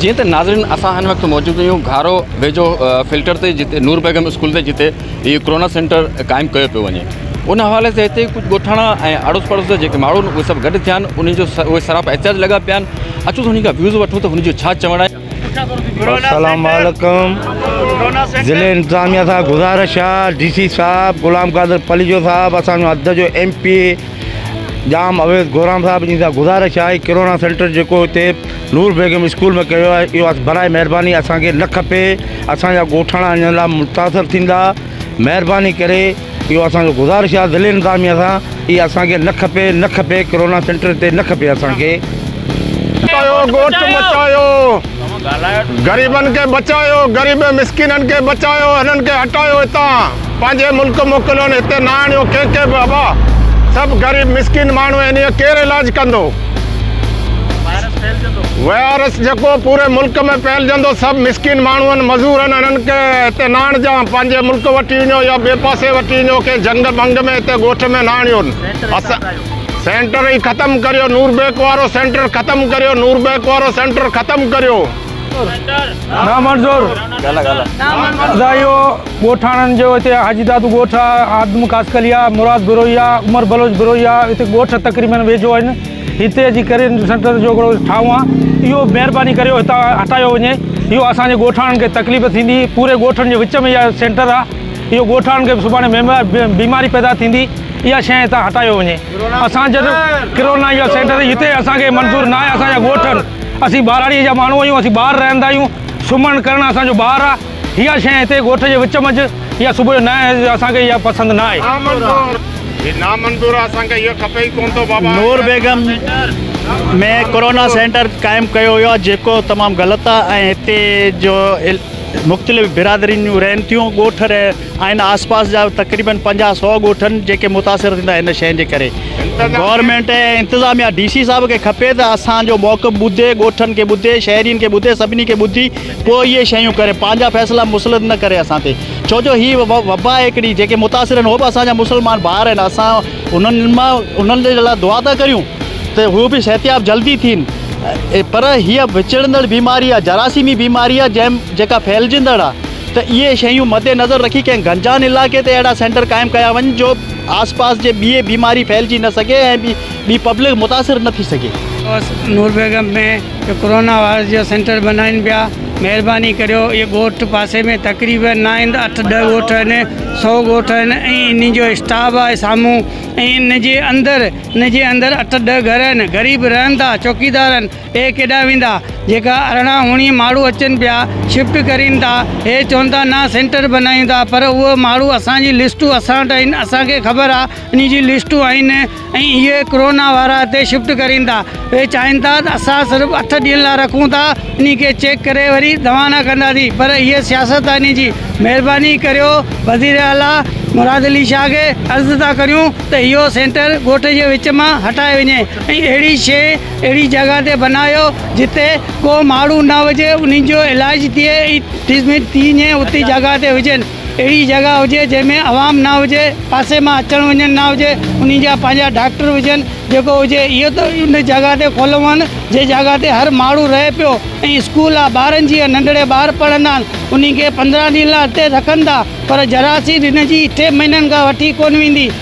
جيئن ته ناظرين اسان هن وقت موجود آهيون گهارو ويجهو فلٽر تي جتي نور بيگم اسڪول تي جتي هي ڪورونا سينٽر قائم ڪيو پيو وڃي ان حوالي سان هتي ڪجهه ڳوٺاڻا ۽ اڙوس پڙوس جا جيڪي ماڻهو آهن اهي سڀ گڏ ٿيا آهن انهن جو اهي سراپا احتجاج لڳا پيا آهن اچو ته انهن کان ويوز وٺون ته هن جو ڇا چوڻ آهي السلام عليڪم ضلعي انتظاميا سان گذارش آ ڊي سي صاحب غلام قادر پليجو صاحب اسان جو حد جو ايم پي جام اويس گورام صاحب جن سان گذارش آ ڪرونا سينٽر جيڪو اتي نور بيگم اسڪول ۾ ڪيو آ ايو اس براء مهرباني اسان کي نه کپي اسان جا ڳوٺاڻا ان لا متاثر ٿيندا مهرباني ڪري اهو اسان جو گذارش آهي ضلعي انتظاميه سان اها اسان کي نه کپي نه کپي ڪرونا سينٽر هتي نه کپي اسان کي. بچايو ڳوٺ بچايو غريبن کي بچايو غريب مسڪينن کي بچايو هنن کي هٽايو هتان پنهنجي ملڪ موڪليون هتي نه آڻيو ڪنهن کي به ابا سڀ غريب مسڪين ماڻهو آهن هي ڪير علاج ڪندو. وائرس جيڪو پوري ملڪ ۾ ڦهلجندو سڀ مسڪين ماڻهن مزورن انهن کي هتي نه آڻجان پنهنجي ملڪ وٺي وڃو يا ٻئي پاسي وٺي وڃو ڪنهن جهنگ ڀنگ ۾ هتي ڳوٺ ۾ نه آڻيون سينٽر ئي ختم ڪريو نوربيڪ وارو سينٽر ختم ڪريو نوربيڪ وارو سينٽر ختم ڪريو. نامنظور ادا اهو ڳوٺاڻن جو هتي حاجي دادو ڳوٺ آهي آدم قاسڪليا مراد بروهيا عمر بلوچ بروهيا هتي ڳوٺ تقريبن ويجهو آهن هتي اچي ڪري سينٽر جو هڪڙو ٺاهون آهي اهو مهرباني ڪريو هتان هٽايو وڃي اهو اسانجي ڳوٺاڻن کي تڪليف ٿيندي پوري ڳوٺن جي وچ ۾ اها سينٽر آهي اهو ڳوٺاڻن کي سڀاڻي بيماري پيدا ٿيندي اها شيء هتان هٽايو وڃي اسان جڏهن ڪرونا جو سينٽر هتي اسانکي منظور ناهي اسانجا ڳوٺ اسين ٻهراڙيء جا ماڻهو آهيون، اسين ٻاهر رهندا آهيون، سمهڻ ڪرڻ اسان جو ٻاهر آهي، اها شيء هتي ڳوٺ جي وچ منجهه يا صبح جو نائين آهي، اسان کي اها پسند نه آهي. هي نامنظور آهي، اسان کي اهو کپي ئي ڪونه ٿو بابا. نور بيگم ۾ ڪورونا سينٽر قائم ڪيو ويو آهي، جيڪو تمام غلط آهي ۽ هتي جو مختلف برادرين جون رهن ٿيون، ڳوٺ رهي. ۽ آس پاس جا تقريبن پنجاهه سؤ ڳوٺن جيڪي متاثر ٿيندا ان شين جي ڪري گورنمينٽ ۽ انتظاميا ڊي سي صاحب کي کپي ته اسان جو موقف ٻڌي ڳوٺن کي ٻڌي شهرين کي ٻڌي سڀني کي ٻڌي پوء اهي شيون ڪري پنهنجا فيصلا مسلط نه ڪري اسان تي ڇو جو هي وبا آهي هڪڙي جيڪي متاثر آهن هو به اسان جا مسلمان ڀائر آهن اسان انهن مان انهن جي لاء دعا ٿا ڪريون ته هو به صحتياب جلدي ٿين پر هيء وچڙندڙ بيماري آهي جراثيمي بيماري آهي جنهن جيڪا ڦهلجندڙ آهي ته اهي شيون مدنظر رکي ڪنهن گنجان علائقي تي اهڙا سينٽر قائم ڪيا وڃن جو آس پاس جي ٻئي بيماري ڦهلجي نه سگهي ۽ ٻي پبلڪ متاثر نه ٿي سگهي. ڳوٺ نور بيگم ۾ جو ڪورونا وائرس جو سينٽر بنائين پيا مهرباني ڪريو اهي ڳوٺ پاسي ۾ تقريبن ناهند اٺ ڏهه ڳوٺ آهن سو ڳوٺ آهن ۽ ان جو اسٽاف آهي سامهون ۽ ان جي اندر ان جي اندر اٺ ڏهه گهر آهن غريب رهن ٿا چوڪيدار آهن هي ڪيڏانهن ويندا؟ جيڪا ارڙهن اوڻيهه ماڻهو اچن پيا، شفٽ ڪرين ٿا. هي چون ٿا نه سينٽر بنايون ٿا پر اهي ماڻهو اسان جي لسٽون اسان وٽ آهن، اسان کي خبر آ انهي جي لسٽون آهن ۽ اهي ڪرونا وارا هتي شفٽ ڪرين ٿا. اهي چاهين ٿا ته اسان صرف اٺ ڏينهن لا رکون ٿا، انهي کي چيڪ ڪري وري دوانا ڪنداسين پر هي سياست آ انهي جي. مهرباني ڪريو وزير اعليٰ مراد علي شاهه کي عرض ٿا ڪريون ته اهو سينٽر ڳوٺ جي وچ مان هٽائي وڃي ۽ اهڙي شيء اهڙي جڳهه تي بنايو جتي ڪو ماڻهو نه هجي انهن جو علاج ٿئي ۽ ٽريٽمينٽ ٿي ڃي اتي جڳهه تي هجن اهڙي جڳهه هجي جنهن ۾ عوام نه هجي پاسي مان اچڻ وڃڻ نه هجي انهن جا پنهنجا ڊاڪٽر هجن جيڪو هجي اهو ته ان جڳهه تي کولون جنهن جڳهه تي هر ماڻهو رهي پيو ۽ اسڪول آ ٻارن جي ننڍڙي ٻار پڙهندا آهن انهن کي پندرهن ڏينهن لاء اتي رکن ٿا پر جراثيم هن جي اٺين مهينن کان وٺي ڪونه ويندي.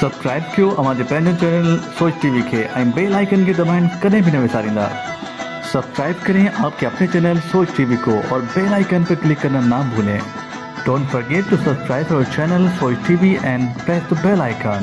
سبسڪرائب ڪيو اوهان جي پنهنجو چينل سوچ ٽي وي کي ۽ بيل آئيڪن کي دٻائڻ ڪڏهن به نه وساريندا سبسڪرائب ڪرين آپ ڪي اپني چينل سوچ ٽي وي ڪو اور بيل آئيڪن پي ڪلڪ ڪرنا نا ڀولين ڊونٽ فرگيٽ ٽو سبسڪرائب اور channel Soch T V and press the bell icon.